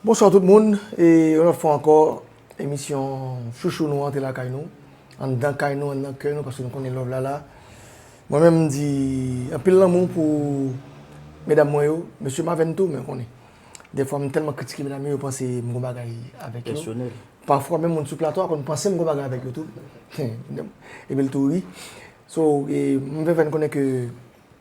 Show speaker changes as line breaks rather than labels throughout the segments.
Bonswa tout moun e yon lòt fwa ankò emisyon chouchou nou an te lakay nou anndan kay nou anndan kè nou paske nou konnen love la la mwen menm mdi anpil lanmou pou medam mwen yo mesye m avè n tou men konnen dèfwa m tèlman kritike medam yo yo panse m gon bagay avèk yo pèsonèl pafwa menm
moun sou
plato a konn panse m gon bagay avèk yo tou epi l tou ri so m vle fè n konnen ke.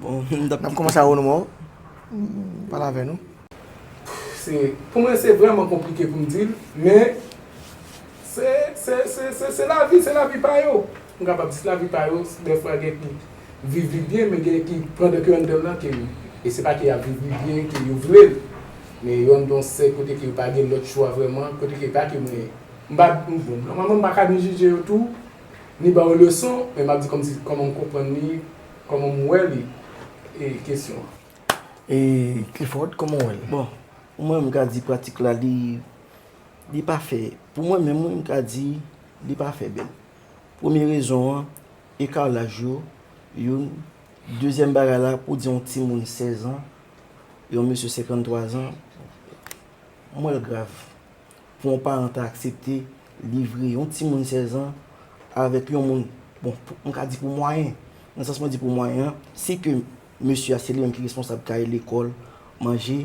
Bon, nap koumanse a ou nou
mou. Pala vè nou.
Pou mwen se vreman konplike pou m di l, men se lavi, se lavi pa yo. M kapab di se lavi pa yo, dèfwa gen ki viv li byen, men gen ki pandan ke anndan lan ke e se pa ke y ap viv li byen ke yo vle l, men yo anndan yon sèk kote ke yo pa gen lòt chwa vreman, kote ke pa ke mwen, m pa, bon, nòmalman m pa ka ni jije yo tou, ni ba yo leson, men m ap di kòmsi, kòman m konprann li, kòman m wè li, e kesyon an. E
Clifford, kòman w wè l? Bon, pou mwen, m
ka di pratik la li, li pa fè, pou mwen menm wi, m ka di li pa fè bèl. Premye rezon an, eka laj yo, youn. Dezyèm bagay la, pou di yon timoun 16 an, yon mesye 53 an, m wè l grav. Pou yon paran ta aksepte livre yon timoun 16 an avèk yon moun, bon, m ka di pou mwayen, nan sans mwen di pou mwayen an, si ke Mesye a se li menm ki responsab kay, lekòl, manje.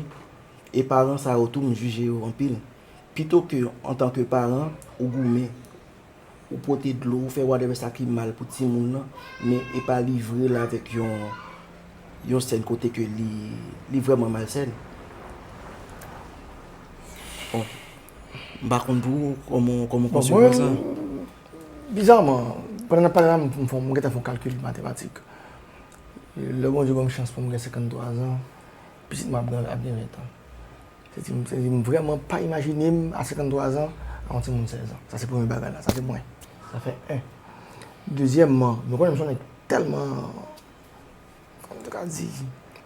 E paran sa yo tou m jije yo anpil. Pito ke antanke paran ou goumen, ou pote dlo, ou fè whatever sa ki mal pou timoun lan, men e pa livre l avèk yon yon sèn kote ke li li vrèman malsèn. Bon, m pa konn pou ou kòman w kòman w konsevwa sa. Bon mwen,
bizaman, pandan n ap pale la m fon m gentan fon kalkil matematik. Lè Bondye ban m chans pou m gen 53 zan, pitit m ap gen ap gen 20 an. Se di m, se di m vrèman pa imajine m a 53 zan ak yon timoun 16 an. Sa se premye bagay la. Sa se mwen. Sa fè 1. Dezyèmman, nou konnen m s yon nèg tèlman, kòman m te ka di,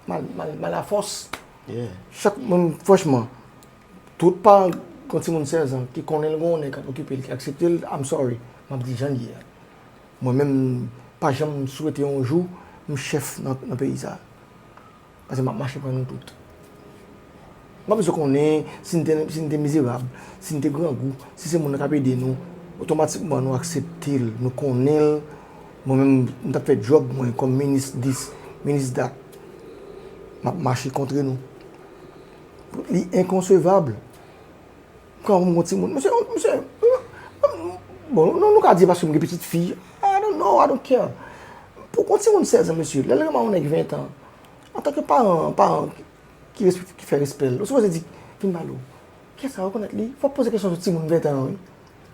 mal, mal, mal a fòs. Chak,
mwen, franchman,
tout paran ki gen yon timoun 16 an, ki konnen l gen yon nèg k ap okipe l, ki aksepte l, I'm sorry, m ap di jan l ye a. Mwen menm m pa janm swete yon jou m chèf nan peyi sa. Pase m ap mache pran nou tout. M pa bezwen konnen si n te si n te mizerab, si n te grangou, si se moun nan k ap ede nou, otomatikman nou aksepte l, nou konnen l. Mwen menm m t ap fè djòb mwen kòm minis dis, minis dat. M ap mache kontre nou. Li enkonsevab. Kòm m gon ti moun, misye, misye, bon, nou, nou ka di paske m gen pitit fi, I don't know, I don't care. Pou yon ti moun 16 an, misye, lè l renmen yon nèg 20 an, antanke paran, paran ki respek, ki fè respè l, ou sipoze di, vin ba l ou. Kè sa rekonèt li, fò w poze kesyon sou ti moun 20 an an wi.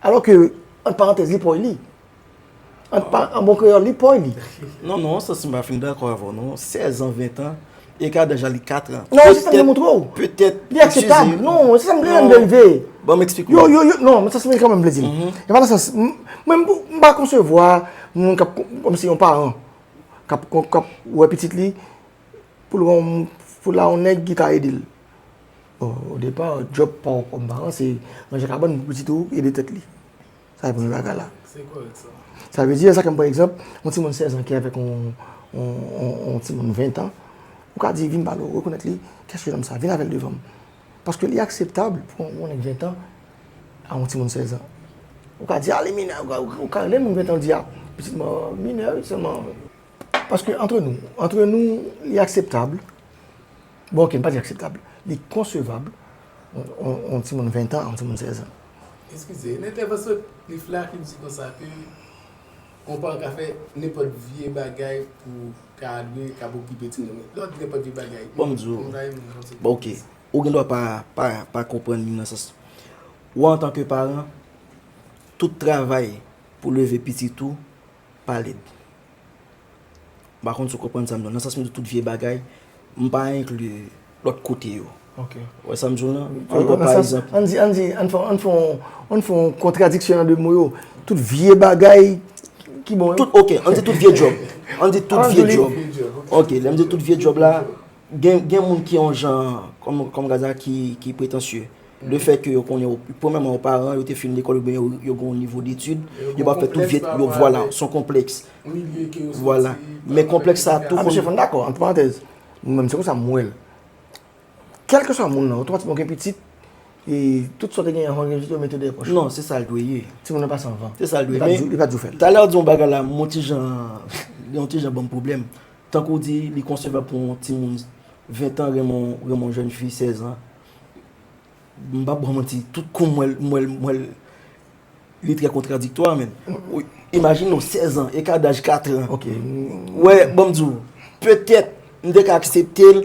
Alò ke, ant parantèz, li pòy li. An bon kreyòl, li pòy li. Non, non, sa si m pa
fin dakò avè w non. Sèzan, ventan, eka daj la li katran. Non, se sa m te montre w.
Petèt. Li akseptab. Non, se sa m vle m vle. Ban m eksplike w. Yo, yo,
yo, non, sa se
m vle di. E pa nan sans, mwen m pa konsevwa moun kap, kòm si yon paran, kap wè pitit li, pou l wè yon, pou l la yon nèg ki ka ede l. O depa, djòb pa w kòm paran, se ranje kabann pou pitit ou ede tèt li. Sa e premye bagay la. Se korèk
sa. Sa vle di, sa kèm pran
egzanp, yon timoun 16 an ki avèk yon timoun 20 an, ou ka di vin ba l, rekonèt li, kèk se nonm sa, vin avè l devan m. Paske li akseptab pou yon nèg 20 an a yon timoun 16 an. Ou ka di a li minè, ou ka menm yon 20 an di a pitit mwen an minè wi sèlman. Paske antre nou, antre nou li akseptab. Bon ok, m pa di akseptab, li konsevab yon timoun 20 tan, yon timoun 16 an. Eskize, nan
entèvansyon Cliff la Cliff di konsa ke yon paran ka fè nenpòt vye bagay pou ka dwe kab okipe timoun li. Lè w di nenpòt vye bagay, bon m di w,
bon ok, ou gen dwa pa konprann li nan sans, ou antanke paran, tout travay pou leve pitit ou, Pale m. M pa konn si w konprann sa m di w la. Nan sans m di tout vye bagay, m pa enkli lòt kote yo. Ou wè sa
m di w la?
An gwo pa egzanp. An di,
an di, an fè yon kontradiksyon an de mo yo. Tout vye bagay ki bon yo. Ok, an di tout vye
djòb. An di tout vye djòb. Ok, lè m di tout vye djòb la. Gen moun ki yon jan, kòm Gaza, ki pretansye. Le fèt ke yo konnen, premèman yo paran, yo te fin lekòl oubyen yo gen yon nivo detid, yo pa fè tout vyèt, yo vwala, son konplèks. Vwala. Men konplèks sa tou. Msye Fon dakò, ant
parantèz. Mwen menm se konsa m wè l. Kèlkeswa moun nan, otomatikman ou gen pitit, e tout sa ou te genyen anvan ou gen pitit yo mete dèyè pòch ou. Non, se sa l dwe ye.
Timoun nan pase anvan. Se
sa l dwe ye. Li pa dwe
fè l. Talè ou
di yon bagay la,
m yon ti jan, li yon ti jan ban m pwoblèm. Tankou w di, li konsevab pou yon timoun 20 tan renmen yon jèn fi 16 an. M pap ba w manti, tout kou m wè l, m wè l, m wè l, li trè kontradiktwa menm. Imajine w, 16 an, eka daj 4 an. Ou wè,
bon m
di w, petèt, m te ka aksepte l,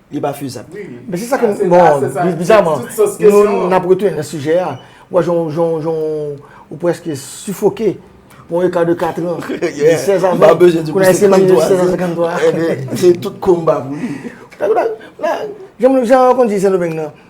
Li pa fezab. Men se sa ke m,
bon,
bizaman, nou n ap retounen nan sijè a. M wè jan w, ou preske sifoke pou yon eka de katran, de sèzan. M pa bezwen di pou se 53 an. Se 53 an.
Se tout konba
pou li. Jan w konn di Sendomeng nan,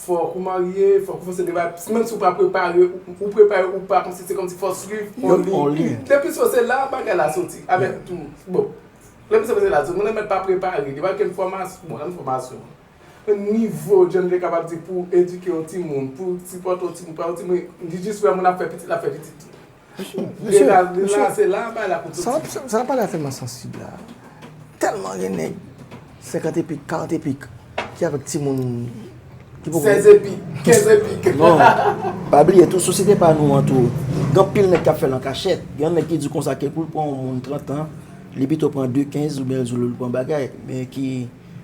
Fòk ou marye, fòk ou fè se deba, menm si ou pa prepare, ou prepare ou pa kòmsi se kòmsi fò w swiv on li. Depi sou se la bagay la soti avèk tou. Bon, lè m se se la soti, mwen mèt pa prepare, depi gen fòmasyon, bon lè m fòmasyon, on nivo jan m te kapab di pou edike on timoun, pou sipòte on timoun, pa on timoun, li jis wè moun ap fè pitit, l ap fè pitit tou. Mesye, mesye, sa nap pale
a fè mwen sansib la. Tèlman gen nèg 50 epik, 40 epik ki avèk timoun ki poko 16
epik, 15 epik. Non,
pa bliye tou sosyete pa nou an tou, gen anpil nèg kap fèl an kachèt. Gen yon nèg ki di konsa ke poul pran yon moun 30 an, li pito pran 2 15 oubyen li di lel pran bagay, men ki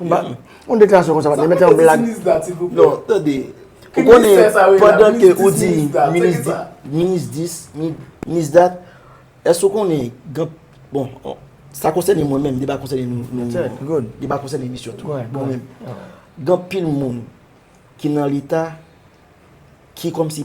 Yon deklarasyon konsa pat mete yon blag. Sa mete ti minis da silvouplè. Non, tande.
Ki ministè sa yo la? Pandan ke ou di minis da. Minis dis, minis dat. Èske ou konnen gen bon, sa konsènen mwen menm, li pa konsènen nou. Mwen tè, good. Li pa konsènen misye tou. Mwen menm. Gen pil moun ki nan leta ki kòm si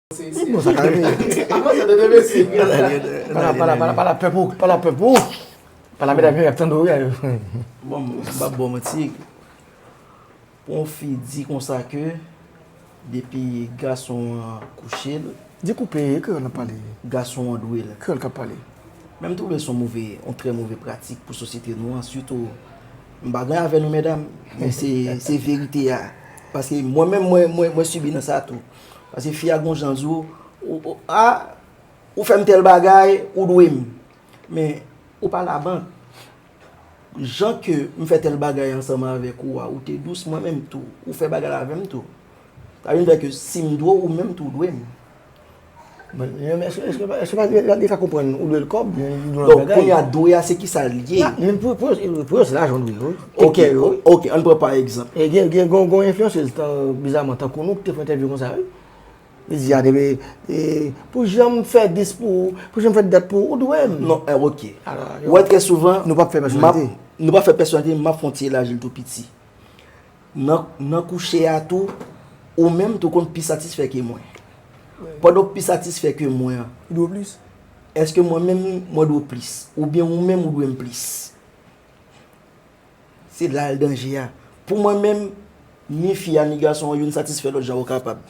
Mwen mwen sa ka reme. Mwen mwen sa te deme si. Pala pala pala pala pepou pala pepou. Pala meda mwen ap tande ou ya yo. Bon
mwen se bab bon mwen ti. Pon fi di konsa ke depi gason an kouche l. Di koupe e ke
yon ap pale. Gason an dwe l.
Ke yon kap pale.
Menm tou lè son
move yon tre move pratik pou sosyete nou an sitou. M pa gen avè nou medam men se se verite ya. Paske mwen menm mwen mwen mwen sibi nan sa tou. Pase fi a gon jan di w, ou fè m tèl bagay, ou dwe m. Men, ou pa labank. Jan ke m fè tèl bagay ansanm avèk ou a, ou te dous, mwen menm tou. Ou fè bagay avè m tou. Sa vin fè ke si m dwe w, ou menm tou dwe m.
Li ka konprann ou dwe l kòb. Donk pou y a
dwe a se ki sa li ye. Pou
yo se lajan w dwe yo. Ok, ok,
an pran pa egzanp. Gen yon
enflyansèz bizaman tankou nou ki te fè entèvyou kon sa wi. Li di a debe, pou jan m fè dis pou ou, pou jan m fè dat pou ou, ou dwe m. Non, ok.
Ou wè trè souvan. Nou pa fè pèsonalite.
Nou pa fè pèsonalite,
m ap fè yon ti elaji l tou piti. Nan kouche a tou, ou menm tou konn pi satisfè ke mwen. Pandan w pi satisfè ke mwen an. Ou dwe plis.
Eske mwen menm
mwen dwe plis? Oubyen ou menm ou dwe m plis? Se la l danje a. Pou mwen menm, ni fi a ni gason an youn satisfè lòt jan yo kapab.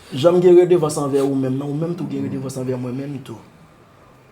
Jan m gen redevans anvè ou menm nan, ou menm tou gen redevans anvè mwen menm tou.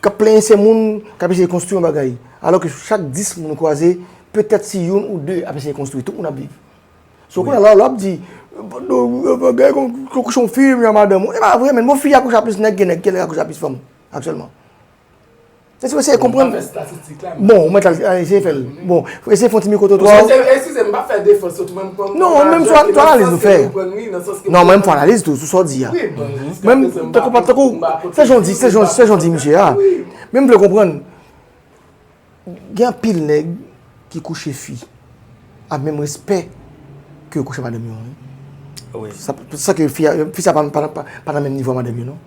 K ap plenyen se moun k ap eseye konstwi yon bagay. Alò ke chak 10 moun ou kwaze, petèt si youn ou de ap eseye konstwi, tout moun ap viv. So kounye a la, lè w ap di, bagay kon, yo kouche yon fi, li a madanm ou, e pa vre menn. Bon, fi a kouche a plis nèg ke nèg, ke nèg a kouche a plis fanm aktyèlman. Se si w eseye konprann. Bon, ou mèt al eseye fè l. Bon, eseye fè yon ti mikwo twotwa ou. Msye, eskize m, m pa fè
defans yo tou men m pran non lajè ki nan sans ke m konprann li,
nan sans ke m konprann. Non, men m fè analiz tou sou sa w di a. Men m, tankou pa, tankou, se jan w di, se jan, se jan w di msye a. Men m vle konprann, gen anpil nèg ki kouche fi ak menm respè ke yo kouche madanm yo an wi.
Wi. San ke
fi a, fi sa pa nan menm nivo a madanm yo non.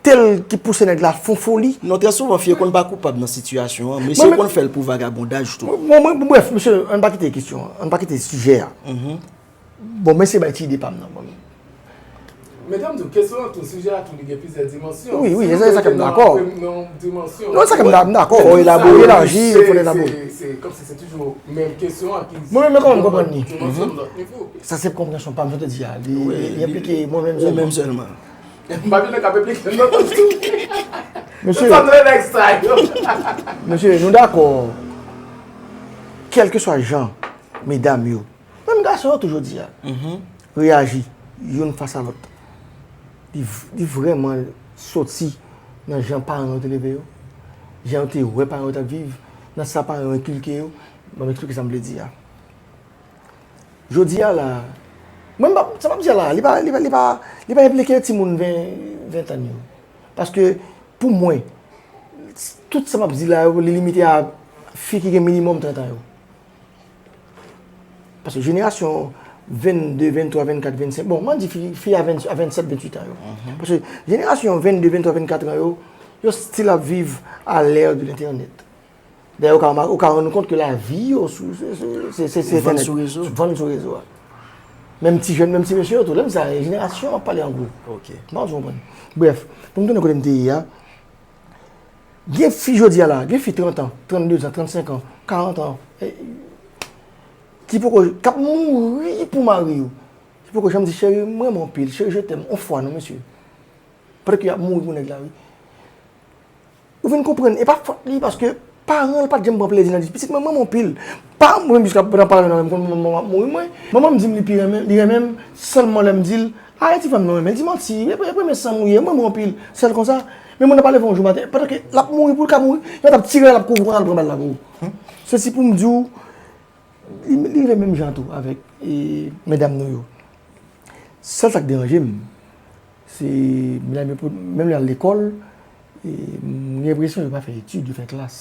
Tel ki pouse nèg la fon foli. Non trè souvan fi yo konn pa
koupab nan sitiyasyon an, mesye yo konn fè l pou vagabondaj tou. Bon mwen brèf mesye
ann pa kite kesyon an, ann pa kite sijè a. Bon mwen eseye bay ti ide pa m nan bon. Medam
tou, kesyon an tou, sijè a tou li gen plizyè dimansyon. Wi wi, se sa ke m
dakò. Non sa ke m dakò. Fò elabore laji, fò elabore. Se kòm si
se toujou
menm
kesyon an ki. Mwen menm kòman m konprann li.
Sa se konprensyon pa m, jan te di a. Li enplike mwen menm sèlman.
Mabine kap
eplike non tout sou li. Se sa vre nèg sa yo. Mesye nou dakò kelke swa jan medam yo, menm gason yo tou jodi a, reyaji youn fas a lòt li vrèman soti nan jan paran yo te leve yo, jan yo te wè paran yo tap viv, nan sa paran yo enkilke yo, banm esplike sa m vle di a. Jodi a la, mwen m pa, sa m ap di a la, li pa, li pa, li pa enplike timoun ven, ventan yo. Paske pou mwen, tout sa m ap di la yo, li limite a fi ki gen minimòm trentan yo. Paske jenerasyon 22, 23, 24, 25, bon, m an di fi, fi a 20, a 27, 28 an yo. Paske jenerasyon 22, 23, 24 an yo, yo stil ap viv a lè de lentènèt. Dayè ou ka remake, ou ka rann ou kont ke lavi yo sou, se, se, se, se, se entènèt. Vann sou rezo.
Vann sou rezo a.
Menm ti jèn, menm ti mesye yo tou. Lèm di sa, jenerasyon an pale an gwo. Ok. M pa konn si w konprann.
Brèf,
pou m tounen kote m te ye a, gen fi jodi a la, gen fi 30 an, 32 zan, 35 an, 40 an, ki poko, k ap mouri pou mari yo, ki poko janm di cheri m renmen w anpil, cheri je t'aime, on fwa non mesye. Pètèt ke y ap mouri pou nèg la wi. Ou vin konprann, e pa fòt li paske paran l pa t janm pran plezi nan di pitit mwen m renmen w anpil. Paran m mwen menm jiska nan paran yo m konn manman m ap mouri mwen. Manman m di m li pi renmen li renmen m sèlman lè m di l a e ti fanm nan w renmen l di manti e premye san m ou ye m renmen w anpil sèl konsa. Men moun nan pa leve yon jou maten pandan ke l ap mouri pou l ka mouri yo t ap tire l l ap kouri konsa l pran bal la pou se si pou m di w li rive menm jan tou avèk medam nou yo. Sèl sa k deranje m. Se menm yo pou, menm lè y al lekòl, m gen enpresyon yo pa fè etid, yo fè klas.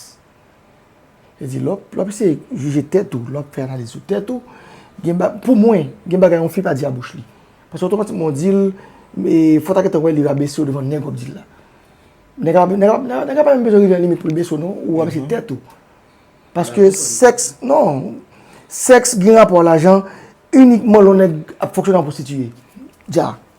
Vle di lè w ap eseye jije tèt ou, lè w ap fè analiz sou tèt ou, gen ba, pou mwen, gen bagay yon fi pa di a bouch li. Paske otomatikman w di l, e fò w ta gentan wè li rabese w devan nèg w ap di l la. Nèg la, nèg la, nèg la pa menm bezwen rive nan limit pou l bese w non, ou rabese tèt ou. Paske sèks, non, sèks gen rapò a lajan inikman lè yon nèg ap fonksyone an pwostitiye. Dja.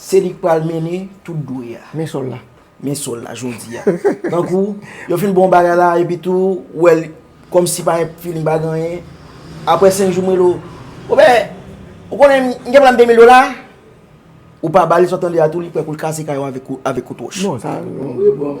Se li k pral mennen tout dwe a. Men sòl la.
Men sòl la jodi a.
Tankou, yo fin bon bagay la, epi tou, ou wè l, kòm si pa gen feeling, pa gen anyen. Aprè senk jou, m rele w, Bon bè, ou konnen, m gen pral m demil dola? Ou pa ba li, sa w tande a tou, li prè pou l kase kay ou avèk kout wòch. Non, sa, non.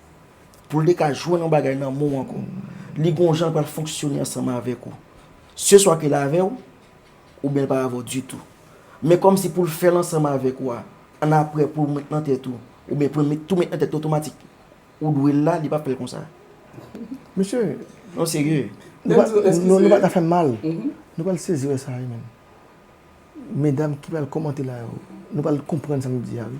pou l te ka jwenn yon bagay nan men w ankò. Li gon jan l pral fonksyone ansanm avèk ou. Se swa ke l avè w, oubyen l pa avè w ditou. Men kòmsi pou l fè l ansanm avèk ou a, annapre pou w met nan tèt ou, oubyen pou l met tou met nan tèt ou otomatik, ou dwe l la, li pap fè l konsa. Mesye!
Non serye.
Denzo, eskize. Non,
nou pa ta fè m mal. Nou pral sezi wè sa wi menm. Medam ki pral kòmante la yo, nou pral konprann sa m ap di a wi.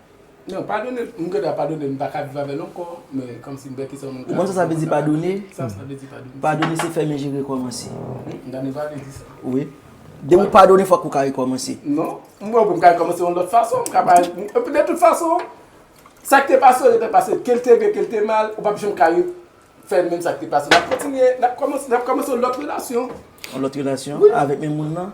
Non padone m gentan padone m paka viv avèl ankò men kòmsi m pè kesèl mwen ka. Ou konn sa sa vle di padone? Sa
sa vle di padone?
Padone se fèmen je
rekòmanse. M ta neva vle
di sa. Wi.
Depi ou padone fòk ou ka rekòmanse. Non, m wè pou
m ka rekòmanse yon lòt fason m ka pa epi de tout fason sak te pase yo rete pase kel te byen kel te mal ou pap janm ka re fè menm sak te pase nap kontinye nap kòmanse yon lòt relasyon. Yon lòt relasyon?
Wi. Avèk menm moun nan?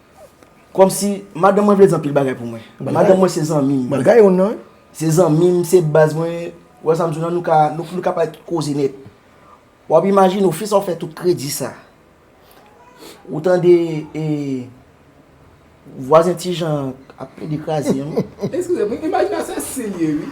Kòmsi, madanm mwen vle di anpil bagay pou mwen. Madanm mwen se zanmi m. Malga yon nan.
Se zanmi m, se
baz mwen. Ou wè sa m di w la, nou ka pale tout koze nèt. W ap imajine w, fi sa w fè tout kredi sa. Ou tande e vwazen Tijan ap plede kraze yon. Eskize m,
imajinasyon se si l ye wi.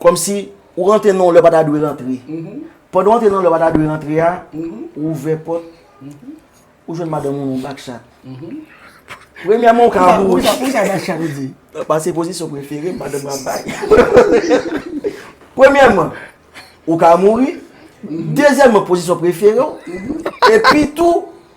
Kòmsi ou rantre nan yon lè ou pa ta dwe rantre. Pandan ou rantre nan yon lè ou pa ta dwe rantre a, ou ouvè pòt, ou jwenn madanm ou nan yon bak chat. Premyèman ou ka ri. Sa pou sa
bak chat ou di? Pase pozisyon
prefere m, madanm mwen ap bay. Premyèman, ou ka mouri. Dezyèman, pozisyon prefere ou. Epitou,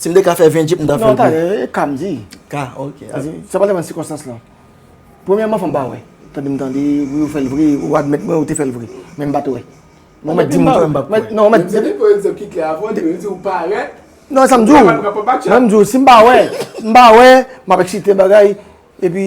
Si m te ka fè 20 jip, m ta fè l tou. Non, ta, ka
m
di.
Ka, ok.
Sa pa depan
sikonstans lan. Premyèman, fò m pa wè. Tande m tande, wi ou fè l vre, ou admèt mwen ou te fè l vre. Men m pa t wè. Mwen mèt di m pa wè, m pa kwè. Non, mèt. Mete pou egzanp ki klè avè
w, depi m di w parèt. Non, sa m di w. Mwen
pa bat chat. Mwen m di w, si m pa wè, m pa wè, m ap eksite bagay, epi.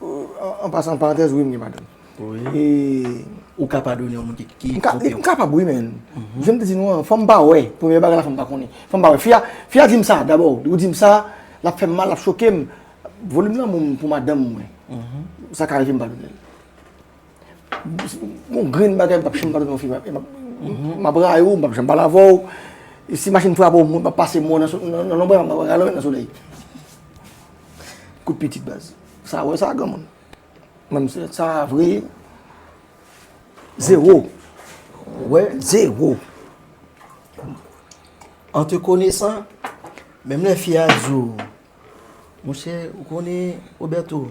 An pasan, an parantèz, wi m gen madanm. Wi.
Ou ka padone yon moun ki twonpe w? M kapab wi men,
jan m te di nou an, fò m pa wè. Premye bagay la fò m pa konnen. Fò m pa wè. Fi a di m sa dabò. Li di m sa, l ap fè m mal, l ap choke m. Volim lanmou m pou madanm mwen, sa ka rive m padone l. Yon grenn bagay m pap janm padone yon fi. M ap rayi w, m pap janm pale avè w. E si machin frape w, mwen pap pase mo nan lonbray ou, m ap rale w nan solèy. Kout pitit baz. Sa wè sa granmoun. Menm se sa vre. Zewo. Wè
zewo. An te konesan, menm lè fi a di w, Monchè, ou konnen Roberto?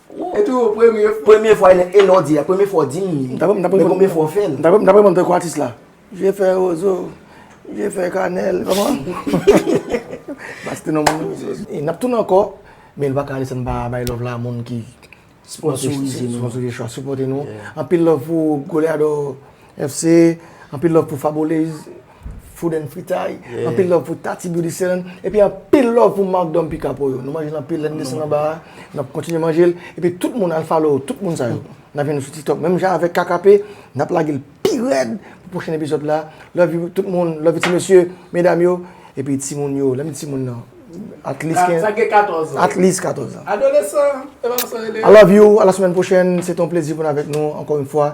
Wouy tou premye fwa. Premye fwa e lè
w di a premye fwa w di m li men konbyen fwa w fè l. Dapre m tankou atis
la. Vye fè rozo, vye fè kanèl kòman? Bas te nonm moun yo. N ap tounen ankò men nou pa ka ale san n pa bay love la a moun ki sponsorise nou. Sponsorise nou. Anpil love pou Goleador. FC anpil love pou Fabolez food and fritay, anpil love pou Tati Beauty Salon, epi anpil love pou Marc Dom Pica Pollo. Nou manje l anpil, lè n desann anba a, n ap kontinye manje l. Epi tout moun al follow tout moun sa yo. N ap jwenn nou sou TikTok. Menm jan avèk KKP, n ap lage l pi rèd pou pwochen epizòd la. Love you tout moun, love you ti mesye, medam yo, epi ti moun yo. Lè m di ti moun nan, at least 15. Sa gen 14 an. At
least 14 an.
Adolesan, epi sa
yo rele? I love
you, a la semèn pwochèn. Se te yon plezi pou n avèk nou ankò yon fwa.